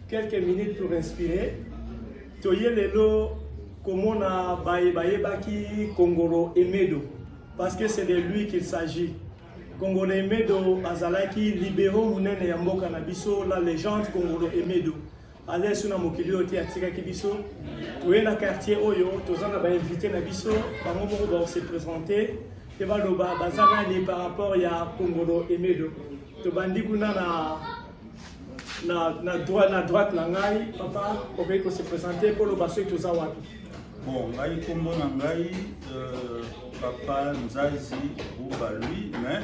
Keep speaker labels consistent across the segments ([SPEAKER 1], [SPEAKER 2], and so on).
[SPEAKER 1] quelques minutes pour respirer toye lelo komona baye bayebaki kongolo emedo parce que c'est de lui qu'il s'agit kongolo emedo azalaki libero monene ya mboka na biso la légende kongolo emedo Adesu na mokili oyo te atikaki biso toye na quartier oyo toza na bainvite na biso bango moko bakose présente mpe baloba baza nani par rapport ya kongolo emedo tobandi kuna na na, na, droit, na droite na ngai papa okoki kose présente mpo loba soki toza wapi bon ngai
[SPEAKER 2] nkombo na ngai euh, papa nzazi buba lui mais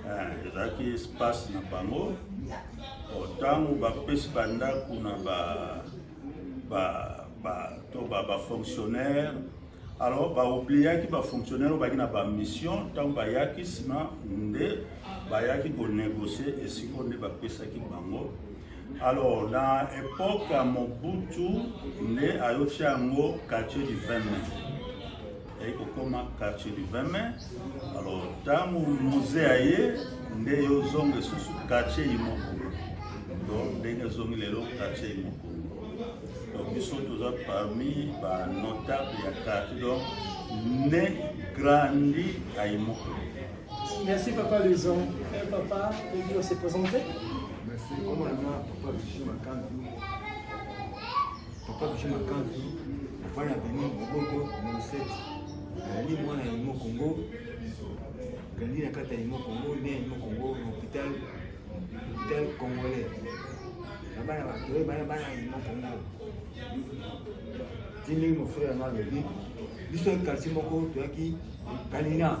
[SPEAKER 2] Eh, ezalaki espace na bango ntango bapesi bandako na ba, ba, ba, to ba, ba fonctionnaire alors baobliaki bafonctionnaire oyo baki na bamission ntango bayaki nsima nde bayaki konegocie esiko nde bapesaki bango alors na epoke ya mobutu nde ayotya yango quartier du 20 ayei kokoma quartier du 20 mai alors ntango musee aye nde yo ozonga esusu quartier imoko donc ndenge ezongi lelo quartier imoko donc biso toza parmi banotable ya quartier donc ne grandi à imoko merci
[SPEAKER 1] papa luison eh, papa ebi ose présente merci
[SPEAKER 3] komona papa lusion makandu Papa Bouche Makanzu, mfana Beni Moboko Moseti, ali mwana ya Imo Kongo, grandi na kati ya Imo Kongo, ne ya Imo Kongo, na hôpital hôpital congolais. Na bana bato oyo bana bana ya Imo Kongo. Ti ndenge mon frère na alobi, biso quartier moko toyaki Kalina.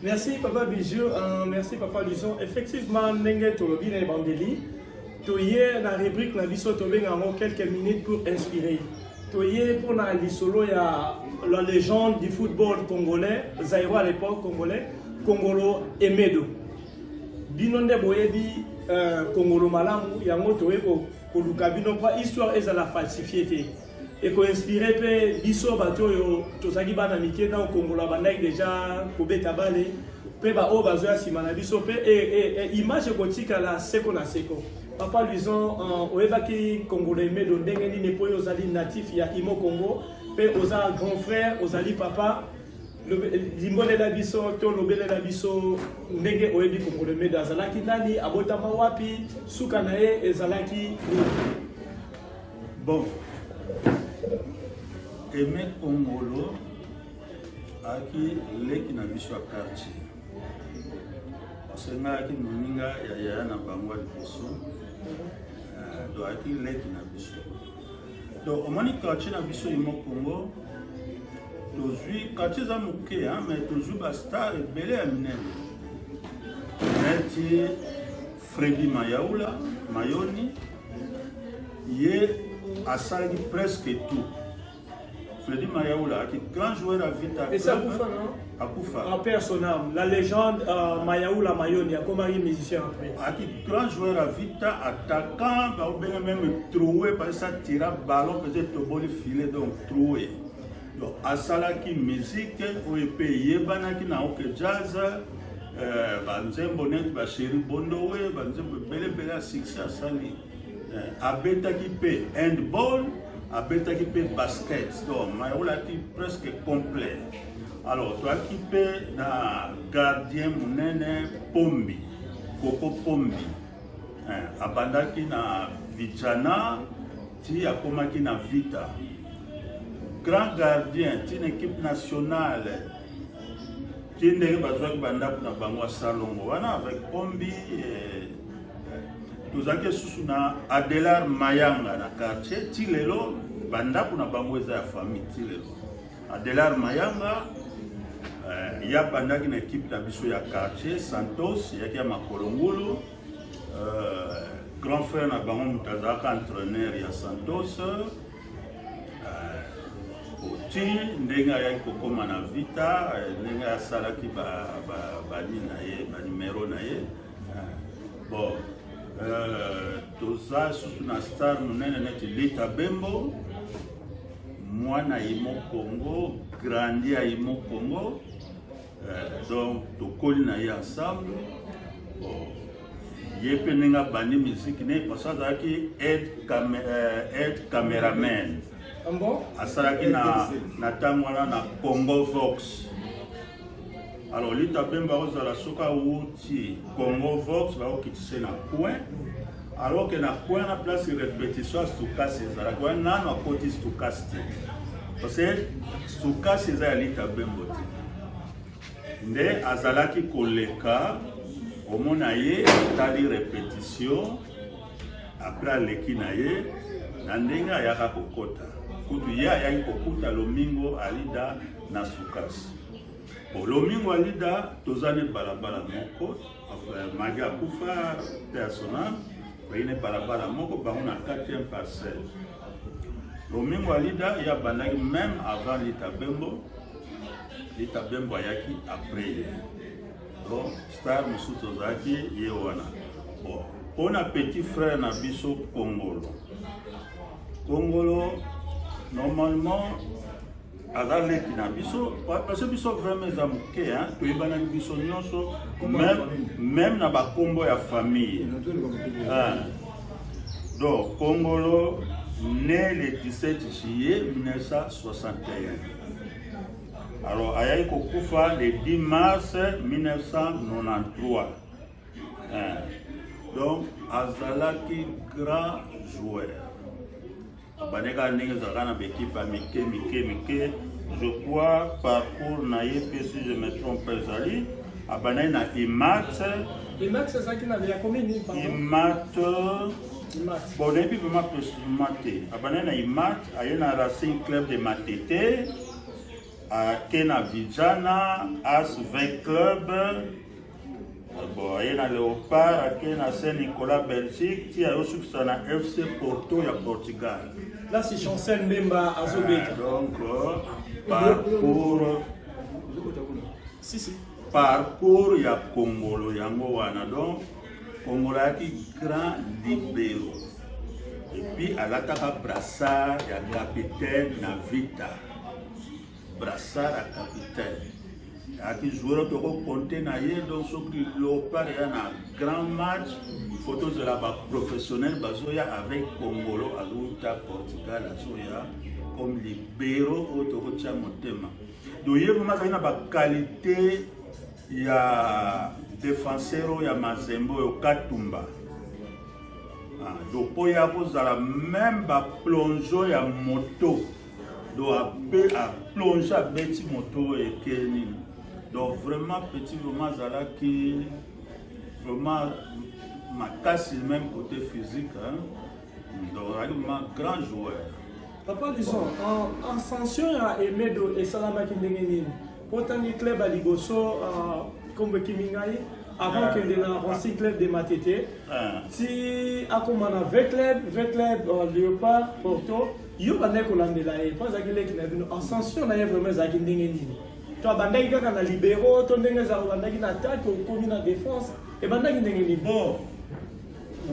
[SPEAKER 1] Merci papa Bijou, uh, merci papa Lison. Effectivement, ndenge tolobi na ebandeli, toye na rubrique na biso tobenga yango quelques minutes pour inspirer. Toye mpo na lisolo ya la légende du football congolais, Zaïro à l'époque congolais, Kongolo Emedo. Bino nde boyebi uh, Kongolo malamu, yango toye koluka bino mpo histoire ezala falsifier te. ekoinspire mpe biso bato oyo tozalaki bana mike ntango kongola bandaki deja kobeta bale mpe baoyo bazoya nsima na biso mpe e, e, e, image ekotikala seko na seko papa luison euh, oyebaki kongola emedo ndenge nini mpo oyo ozali natif ya imo congo mpe oza grand frère ozali papa limbolela biso to lobelela biso ndenge oyebi kongola emedo azalaki nani abotama wapi suka na ye ezalaki nini
[SPEAKER 2] Bon, Aimé Kongolo ayaki leki na biso ya quartier parce que ngai ayaki moninga ya yaya na bango ya liboso euh, do ayaki leki na biso donc omoni quartier na biso imo congo tozwi quartier eza moke mais tozwi bastar ebele ya minene neti Freddy Mayaula Mayoni ye asalaki presque tout. Freddy Mayaula aki grand joueur à Vita. Et
[SPEAKER 1] ça Kufa non? Akufa. En
[SPEAKER 2] personnam,
[SPEAKER 1] la légende euh, Mayaula Mayoni akomaki musicien après. Aki grand joueur à
[SPEAKER 2] Vita, attaquant, ba obenge même troué parce que ça tira ballon peut-être toboli filet donc troué. Donc asalaki musique oyo mpe eyebanaki na Ok Jazz euh, banzembo neti ba Chéri Bondowe banzembo ebele ebele ya succès asali euh, abetaki mpe handball abetaki mpe basket donc mayolaki presque complet alors toyaki mpe na gardien monene pombi koko pombi euh, abandaki na vijana ti akomaki na vita grand gardien ti na equipe nationale ti ndenge bazwaki bandako na bango ya salongo wana avec pombi eh, tozalaki lisusu na adelar mayanga na quartier ti lelo bandako na bango eza ya famille ti lelo adelar mayanga eh, ye abandaki na ekipe na biso ya quartier santos eyaki ya makolo ngulu Euh, grand frère na bango moto azalaka entraîneur ya Santos euh, oti ndenge ayaki kokoma na Vita euh, ndenge asalaki bani na ye banimero na ye bon toza susu na star monene neti Lita Bembo mwana yimo Congo grandi ya yimo Congo Eh, donc tokoli na ye ensemble oh, ye mpe ndenge abandi miziki ne parce azalaki aide eh, cameraman ah asalaki na ntango wana na congo vox alors lita mpe mbakozala soki awuti congo vox bakokitise na coin alors que na coin na place repetition stokasi ezalaka wana nano akoti stokasi te parce que stokasi eza ya lita bembo te nde azalaki koleka omona ye atali repetition apres aleki na ye na ndenge ayaka kokota kutu ye ayaki kokuta lomingo alida na sukasi lomingo alida toza ne balabala moko Magi akufa persona bayi na balabala moko bango na 4e parcelle lomingo alida ye abandaki meme avant lita bembo lita bembo ayaki après ye donc star mosusu tozalaki ye wana bon mpo na petit frère na biso kongolo kongolo normalement aza leki na biso parce biso vraiment eza moke toyebanani biso nyonso meme na bakombo ya famille donc kongolo né le 17 juillet 1961 alors ayaki kokufa le 10 mars 1993 donc azalaki grand joueur obandaki kaka ndenge ezalaka na baekipe ya mike mike mike je crois parcours na ye mpe si je me trompe ezali abandaki na imat imat
[SPEAKER 1] ezalaki na ya komini imat
[SPEAKER 2] bon nayebi vraimen précisément te abandaki na imat aye na racing club de matete ake na vijana asve club bon aye na leopard ake na saint nicolas belgique ti ayosukisa na fc porto ya portugal là c'est chancel
[SPEAKER 1] mbemba azobeta ah, donc euh,
[SPEAKER 2] parcours si, si. parcours ya kongolo yango wana donc kongolo ayaki grand libero epuis alataka brassard ya capitaine na vita Brassard à capitaine. Aki joueur toko compter na ye donc soki Leopard ya na grand match il faut tozela ba professionnel bazoya avec Congolo azouta Portugal azoya comme libero oyo tokotya motema donc ye vraimen azali na baqualité ya defenseur oyo ya mazembe oyo katumba ah, donc mpo ya kozala meme baplongeon ya moto donc ape aplonge abeti moto oyo ekee nini donc vraiment petit vraiment azalaki vraiment makasi même côté physique hein? donc azalaki vraiment grand joueur papa lison
[SPEAKER 1] ascension ya emedo esalamaki ndenge nini otangi club ya liboso nkombo euh, ekimi ngai avant ah. kende na racing club de matete ah. ti akoma na v club v club euh, léopard porto yo bandaki kolandela ye mpo azalaki leki na bino ascension na ye vraiment ezalaki ndenge nini to abandaki kaka na libéraux to ndenge ezala obandaki na attaque okomi na défense ebandaki ndenge nini bon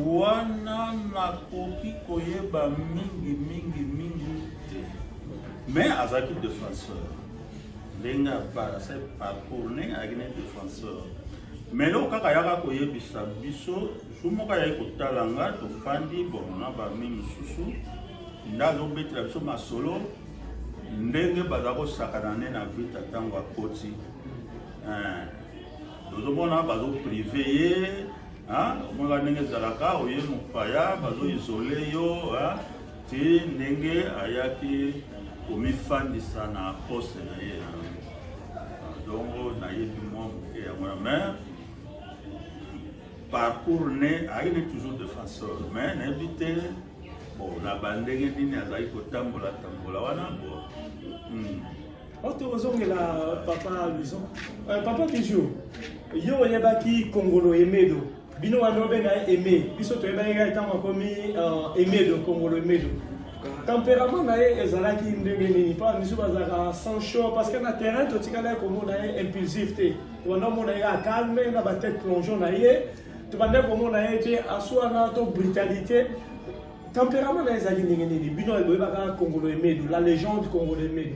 [SPEAKER 2] wana nakoki koyeba mingi mingi mingi te mais azalaki défenseur ndenge apara se parcours ndenge ayaki na défenseur Melo kaka yaka koyebisa biso jour moko ayaki kotala nga tofandi bon na bami mosusu nde azobetela biso masolo ndenge baza kosakana nde na vita ntango akoti tozomona eh, bazoprive ye omonaka ndenge ezalaka oye mopaya bazoisole yo ti ndenge ayaki komifandisa na poste na ye dongo nayebi mwa moke yango na mare parcours ne ayaki ne toujours defenseur mais nayebi te bo na bandenge nini azali kotambola tambola wana bo hmm.
[SPEAKER 1] oto oh, ozongela papa luison euh, papa bijou yo oyebaki kongolo emedo bino wana obenga ye aime biso toyebaki kaka ntango akomi euh, aimedo kongolo aimedo temperament na ye ezalaki ndenge nini mpo misu bazalaka sans chaud parce que na terrain totikala ye komona ye impulsif te tobanda omona ye acalme na batete plongeon na ye tobanda komona ye te aswana to brutalité temperament na ye ezalaki ndenge nini bino boyebaka kongolo emedo la légende kongolo emedo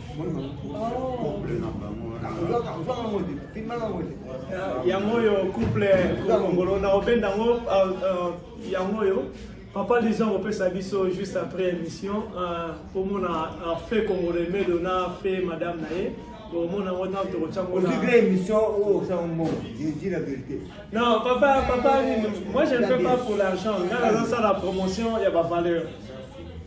[SPEAKER 1] yango oyo couple kongolo na obenda yango euh, euh, yango oyo papa lisa kopesa biso juste après émission komona euh, fe kongolo emedo na fe madame na ye omona ngo ntango tokotya ngo na émission oyo osala
[SPEAKER 3] mbongo je dis la vérité non papa
[SPEAKER 1] papa moi je ne fais pas pour l'argent nga nazosala promotion ya bavaleur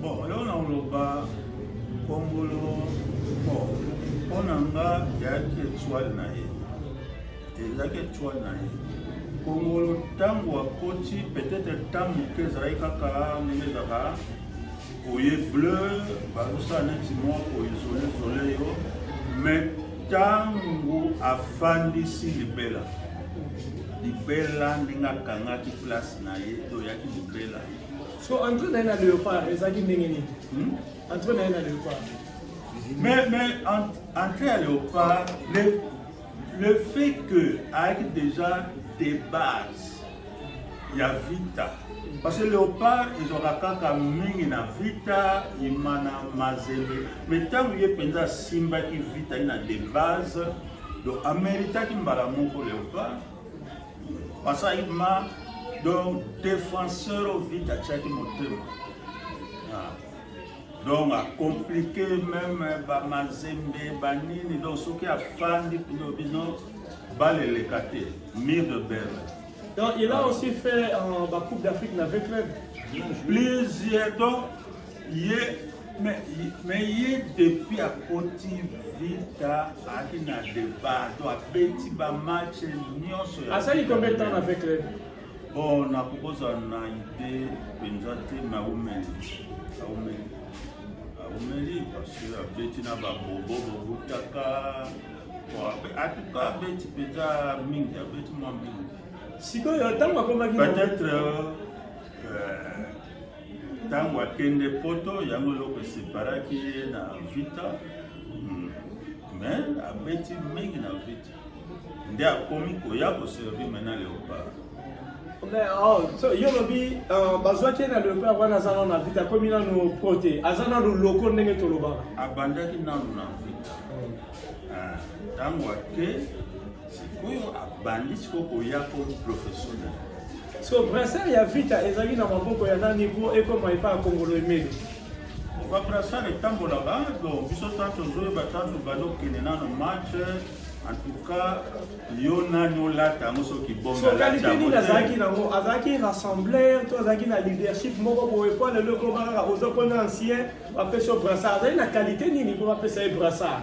[SPEAKER 1] Bon,
[SPEAKER 2] leo na oloba kongolo bon mpo na nga eyaki etoile na ye ezalaki etoile na ye kongolo ntango akoti peut-être ntango moke ezalaki kaka ndenge ezalaka oye bleu bazosala neti mwa koizole zole yo mais ntango afandisi libela libela ndenge akangaki place na ye to oyaki libela So entre
[SPEAKER 1] na ye na Leopard ezalaki ndenge nini? Hmm? Entre na ye na Leopard. Mais
[SPEAKER 2] mais entre ya Leopard le le fait que ayaki déjà des bases ya Vita parce que Leopard ezwaka kaka mingi na Vita imana mazembe mais ntango ye mpenza asimbaki Vita ye na des bases donc ameritaki mbala moko Leopard Pasaima donc défenseur au vide atiaki motema ah. donc acomplike meme eh, bamazembe banini donc soki afandi bino bino baleleka te mire de berre donc il a
[SPEAKER 1] aussi fait euh, bacoupe d'afrique na v club plusieurs
[SPEAKER 2] donc ye mais mais ye depuis akoti vita ayaki na debat to abeti bamatch nyonso asali
[SPEAKER 1] combien temps avec le bon
[SPEAKER 2] nakokozala na ide mpenza te me aumeli aumeli aumeli parce que abeti na babobo bobutaka atuka abeti mpenza mingi abeti mwa mingi sikoyo ntango
[SPEAKER 1] akomaki peut-être
[SPEAKER 2] euh, ntango akende poto yango eloko eseparaki ye na vita hmm. mais abeti mingi na vita nde akomi koya koservi mai na leopard
[SPEAKER 1] oh, yo lobi euh, bazwaki ye na leopard wana aza nano na vita akomi nano pro te aza nano loko ndenge tolobaka abandaki nano
[SPEAKER 2] na vita ntango hmm. ah, ake Sikoyo abandi sikoyo koya comme professionnel. So
[SPEAKER 1] brassard ya Vita ezali na maboko ya nani mpo ekoma epai ya Kongolo Emeli? Ba
[SPEAKER 2] brassard etambolaka donc biso tanto ozoyeba tanto bando okende nano match en tout cas yo nani olata yango soki bongalite nini azalaki
[SPEAKER 1] nango azalaki rassembleur to azalaki na leadership moko boye mpo lelo ekoma kaka oza mpona ancien bapesi yo brassard azali na qualité nini mpo bapesa ye brassard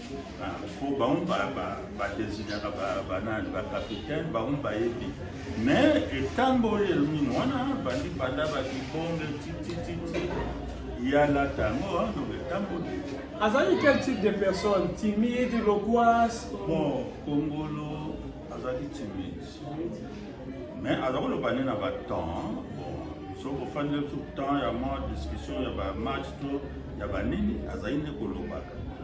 [SPEAKER 2] po bango badesignaka banani bacapitaine bango bayebi mais etamboli elomini wana bandi banda bakibonge titititi yalata
[SPEAKER 1] yango donc etamboli azali quel type de personne timide loquas bon
[SPEAKER 2] kongolo azali timide mais aza koloba nde na batemps bon soki ofandi tout temps ya ma discussion ya bamatch to ya banini azali nde kolobaka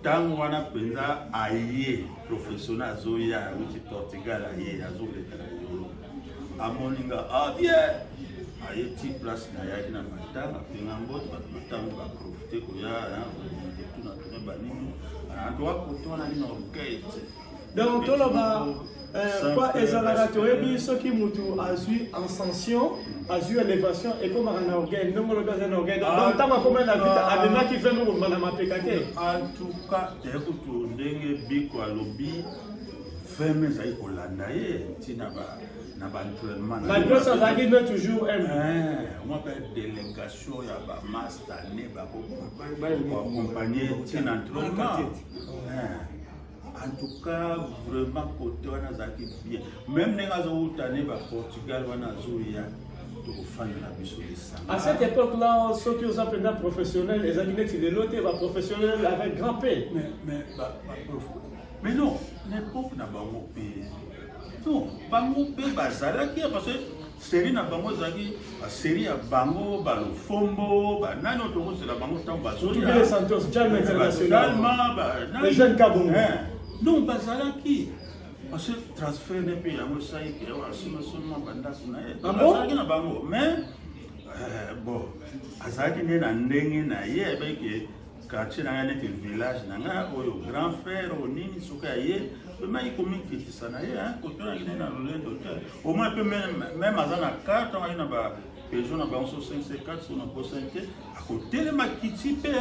[SPEAKER 2] ntango wana mpenza aye professionnel azoya awuti portugal aye azoleka na yolo amoni nga abie ah, aye ti place na yaki na matanga mpenga mbote bato batango baprofite koya tuna tuna banini antoa kotonani na orkestre donc
[SPEAKER 1] toloba euh, kwa ezalaka toyebi soki motu azwi ascension azwi elevation ekomaka na orgueil ndongo lobi aza na orgueil donc ah, ntango akomai na vita ah. amemaki ve mobomba na mapeka te antuka
[SPEAKER 2] ekutu ndenge biko alobi feme ezali kolanda ye ntina na baentrainement malgré ça azalaki nde
[SPEAKER 1] toujours m omaka
[SPEAKER 2] eh, délégation ya bamasta ne bakoakompagne ntina entrainement En tout cas, vraiment, côté, on a zaki bien. Même les gars, on a né, Portugal, on a zoué, tokofanda na biso lisanga à cette époque là
[SPEAKER 1] soki oza mpenza professionnel ezali neti lelo te baprofessionnel avec grand p mais
[SPEAKER 2] non na époque na bango mpe non bango mpe bazalaki parce que Serie na bango ezalaki ba serie ya bango ba lofombo ba nani oyo tokozela bango ntango bazoya Kibele Santos, Jalma ba
[SPEAKER 1] International. Salma, ba nani. Les jeunes Kabongo. Eh, donc
[SPEAKER 2] bazalaki parce que transfert ne mpe yango esali ke asima seulement bandako na ye Ah bon? azalaki na bango mais eh, bon azalaki nde na ndenge na ye ayebaki ke quartier na ngai neti village na ngai oyo grand frère oyo nini soki aye pemaki komikitisa na ye kotonaki nde na lolendo te omoi mpe meme aza na carte angai na ba pejo na bango so 54 so na posani te akotelema kiti mpe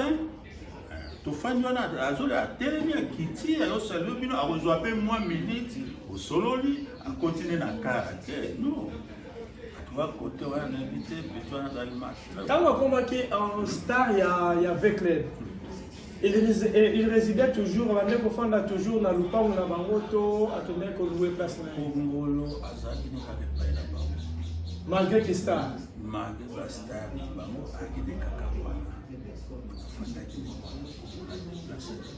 [SPEAKER 2] tofandi wana azoli atelemi akiti ayosalio bino akozwa mpe mwa miniti osololi akontinue na kara te no ntango akomaki
[SPEAKER 1] en star ya, ya vecled il, eh, il résidait toujours abandaki kofanda toujours na lupango na bango to akendaki koloue place na kongolo azalaki
[SPEAKER 2] nokaka epai na bango malgré ki
[SPEAKER 1] star malgré bastar na
[SPEAKER 2] bango akende kaka wana afandaki na bango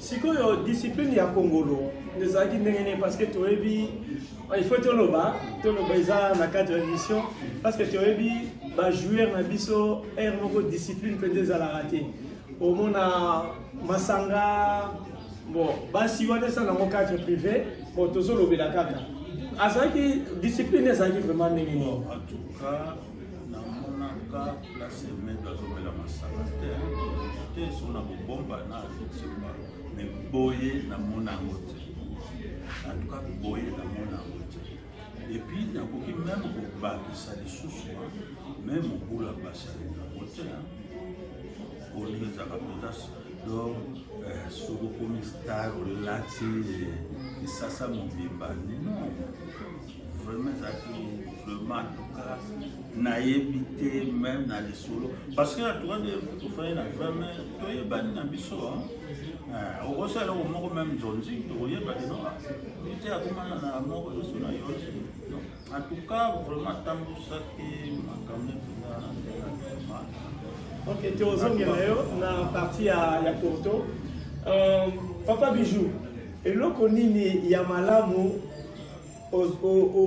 [SPEAKER 2] sikoyo
[SPEAKER 1] discipline ya kongolo ezalaki ndenge nini parce que toyebi il faut toloba toloba eza na cadre ya émission parce que toyebi bajoueur na biso heure moko discipline mpenza ezalaka te omona masanga bon basi wana eza nango cadre privé bon tozolobela kaka azalaki discipline ezalaki vraiment ndenge nini
[SPEAKER 2] namonaka place medo azomela masanga te te so na kobomba na azotiba me boye namona yango te antuka boye namona yango te epuis nakoki meme kobakisa lisusu me mobula basali yango te olingi ezaka mpenza donc euh, soki okomi star olati lisasa mobimba non vraiment ezalaki vraiment atuka nayebi te meme na lisolo parce que atuka de tofai na vraimen toyebani na biso eh, okosala eloko moko meme nzonzi tokoyeba kino te akomana na moko yoso na yo en tout cas vraiment atambusaki makambo mpenza ok
[SPEAKER 1] tozongela yo na parti ya porto euh, papa bijou eloko nini ya malamu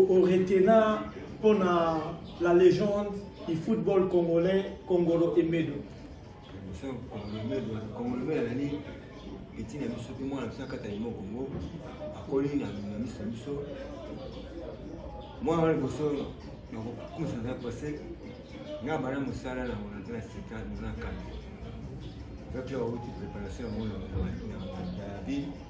[SPEAKER 1] oretena mpo na la légende du football congolais kongolo emedo
[SPEAKER 3] etinda biso mpe mwana biso akata limo kongo akoli na miso na biso mwana wana liboso nakokumisa na pase nga bana mosala na mona te na sika nona kanda ezaki awuti préparation ya mona na david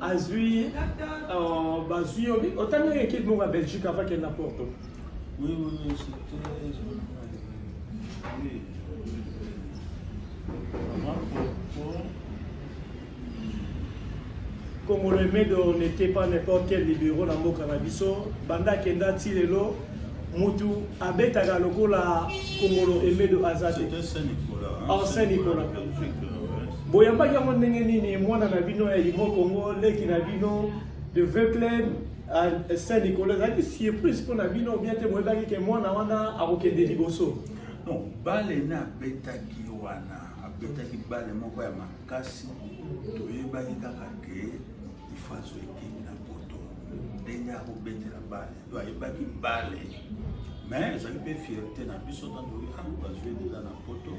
[SPEAKER 1] azwi euh, bazwi yo otangaki ekipe moko ya belgique avant kende na porto oui, oui,
[SPEAKER 2] oui, oui.
[SPEAKER 1] Congolais Medo n'était pas n'importe quel libéraux na mboka na biso banda akenda ti lelo mutu abetaka lokola Congolo Emedo aza te. Saint Nicolas.
[SPEAKER 2] Saint Nicolas.
[SPEAKER 1] Boyambaki yango ndenge nini mwana na bino ya Imo Congo leki na bino de Veuclair à Saint-Nicolas ezalaki surprise mpo na bino bien te boyebaki ke mwana wana akokende liboso non bale
[SPEAKER 2] ne abetaki wana abetaki bale moko ya makasi toyebaki kaka ke ifo azo ekipe na poto ndenge akobetela bale to ayebaki bale mais ezali mpe fierté na biso ntanto azwi deja na poto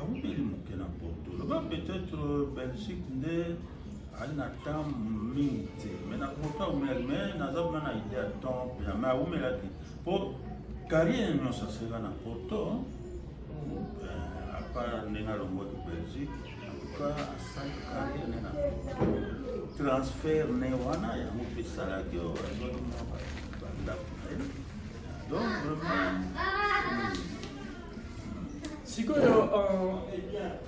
[SPEAKER 2] awumeli moke na poto loba peut-être euh, belgique nde ali na temps mingi te mai na poto awumelaki mai naza kuna na idée ya temps mpena mai awumelaki mpo carrière nyonso aseka na poto euh, apart ndenge alongwaki belgique transfert ne wana yango mpe esalaki oyo azwaki mwa bandako
[SPEAKER 1] na ye donc vraiment sikoyo euh,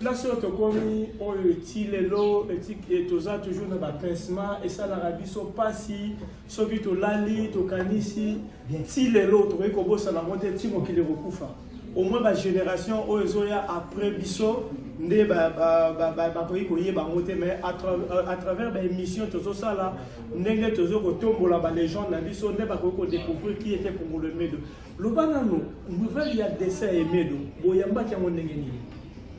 [SPEAKER 1] place oyo tokomi oyo eti lelo toza toujours na bapincement esalaka biso mpasi soki tolali tokanisi ti lelo tokoki kobosana yango te ti mokili ekokufa au moins ba génération oyo ezoya après biso nde bakoki koyeba yango te mais euh, à travers baémission tozosala ndenge tozo kotombola balégende na biso nde bakoki kodécouvrir qui était kongolo emedo loba nano nouvelle ya dessin ya emedo boyambaki yango ndenge nini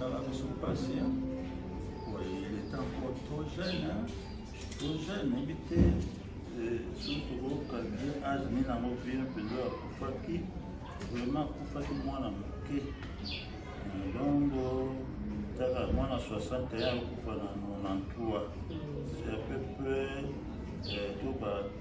[SPEAKER 2] esala biso mpasi il est encore trop jeune trop jeune nayebi te soki tokokalbie age nini yango vie mpenza akufaki vraiment akufaki mwana moke donc taka mwana 61 akufa na 93 c'est à peu près to ba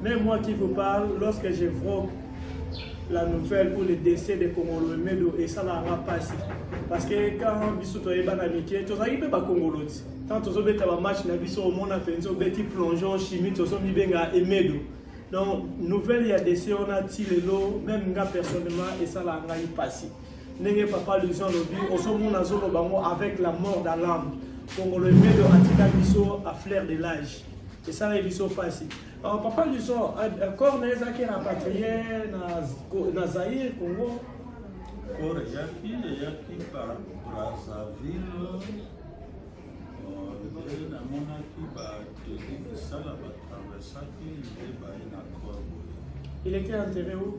[SPEAKER 2] Mais moi
[SPEAKER 1] qui vous parle, lorsque j'évoque la nouvelle ou le décès de Kongolo Emedo et ça l'a passé. Parce que quand biso toyeba na mike, tozali mpe bakongolo ti. Tant tozobeta bamatch na biso omona mpenza obeti plongeon chimie tozomibenga Emedo. Donc nouvelle ya décès wana ti lelo, même nga personnellement esalaka ngai mpasi. ndenge papa lusion alobi ozomona azoloba yango avec la mort dans l'âme kongolo emedo atika biso a flair de l'âge esalaki biso mpasi euh, papa lusion euh, euh, corps na ezalaki rapatrie na zaire congo corps
[SPEAKER 2] eyaki eyaki par brazzaville nde namonaki bateli misala batraversaki nde baye na corps
[SPEAKER 1] boye il était enterré où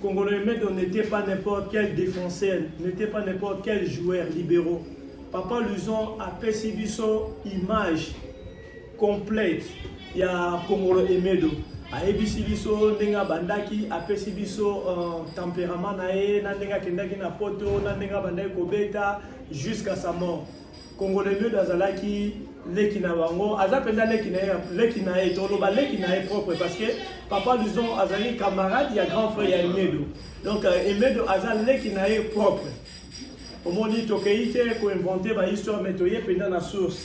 [SPEAKER 1] Congolais Medo n'était pas n'importe quel défenseur, n'était pas n'importe quel joueur libéraux. Papa Luzon a pesi biso image complète ya Congolo Emedo. ayebisi biso ndenge abandaki apesi biso uh, temperament na ye na ndenge akendaki na poto na ndenge abandaki kobeta jusqu'à sa mort Congolais Mieux azalaki leki na bango aza mpenza leki na ye leki na ye toloba leki na ye propre parce que papa lison azali camarade ya grand frère ya emedo donc euh, emedo aza leki na ye propre omoni tokei te koinvente bahistoire mai toye mpenza na source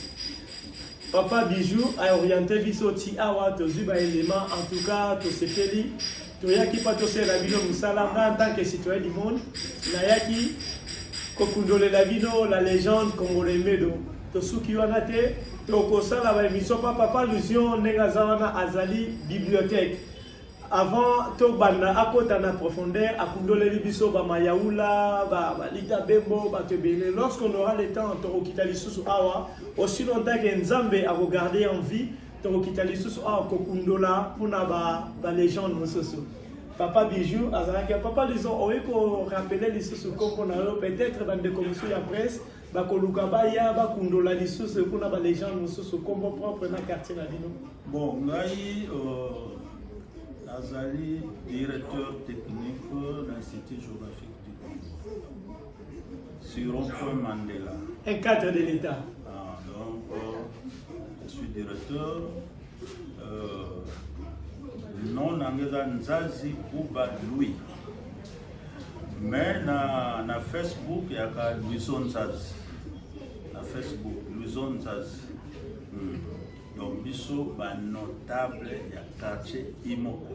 [SPEAKER 1] papa bijou aoriente biso ti awa tozwi baelema en tout cas tosepeli toyaki mpa tosela bino mosala nga en tant que citoyen du monde nayaki kokundolela bino la légende congolais medo tosuki wana te tokosala baémission mpa papa allusion ndenge aza wana azali bibliothèque avant tobanda akota na profondeur akundoleli biso bamayaula balita bembo bato ebele lorsqu'on aura le temps tokokita lisusu awa aussi longtemps ke nzambe akogarde en vie tokokita lisusu awa kokundola mpona balegende mosusu papa bijou azalaki ya papa lison oye korapele lisusu nkombo na yo peut-être bandeko mosusu ya presse bakoluka baya bakundola lisusu kuna balegende mosusu nkombo propre na quartier na bino bon ngai
[SPEAKER 2] euh, nazali directeur technique na institut géographique du congo Sur rond-point Mandela. Un cadre de
[SPEAKER 1] l'État. Ah, donc, euh, je
[SPEAKER 2] suis de retour. Euh, non nanga eza nzazi kuba louis mais na, na facebook yaka luiso nzazi na facebook luiso nzazi hmm. donc biso banotable ya quartier imoko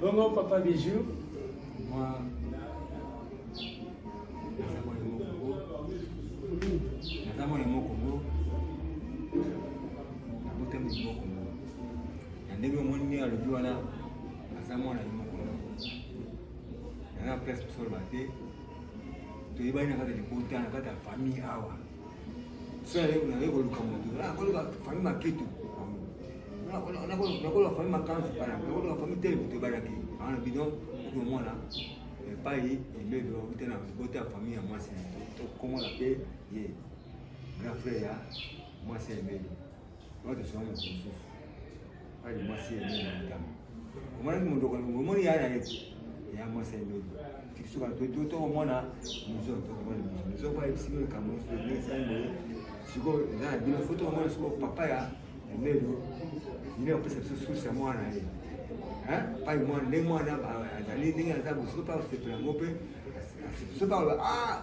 [SPEAKER 2] Bongo papa
[SPEAKER 1] Bijou,
[SPEAKER 3] moi, naza mwana moko ngo nabota moto moko ngo na ndenge omoni ndenge alobi wana aza mwana ye moko ngo naza na place mosoloba te toyebani na kati ya libota na kati ya famille awa Sasa leo na leo luka mtu. Na kwa luka fami makitu. Na kwa na kwa na kwa fami makanzu pana. Na kwa luka fami tele kutu bana ki. Ana bidon kwa mwana. Pai ile ndio tena bote ya familia mwasi. Kwa mwana pe ye. Grand frère ya mwasi ya mbele. Watu sana kumsufu. Hadi mwasi ya nini mtamu. Mwana ni mdogo ni mwana ya ana yetu. Ya mwasi ni mdogo. Tikisuka tu tu tu mwana mzee tu kwa ni mzee. Mzee kwa ibisi ni kama mzee ni sana. Siko na bila foto mwana siko papa ya lelo. Ndio pesa sisi ya mwana yeye. Eh? Pai mwana ni mwana azali ndenge aza bosiko pa sepela ngope. Sepela ah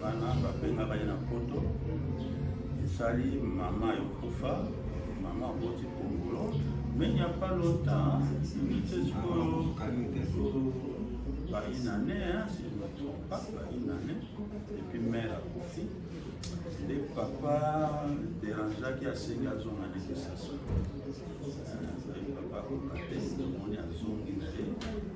[SPEAKER 2] bana babengaka ye na poto esali mama yokufa mama aboti kongolo mais il n'y a pas longtemps nite sikoyo baine année si je me trompe pas baine année epuis mare akufi nde papa derangeaki asengi azonga na kisasa papa akokate omoni azongi na ye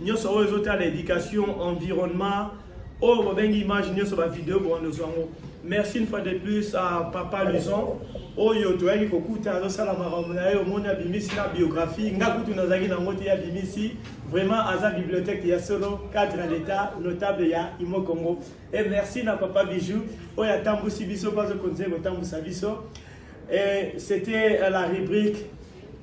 [SPEAKER 1] nyonso oyo ezotala éducation environnement oyo bobengi image nyonso bavideo bowandoso yango merci une fois de plus à papa luson oyo toyaki kokuta azosala makambo na ye omoni abimisi na biographie nga kutu nazalaki na yango te abimisi vraiment aza bibliothèque ya solo cadre ya l'état notable ya imo congo e merci na papa bijou oyo atambwisi biso mpo azokontinue kotambwisa biso e c'était la rubrique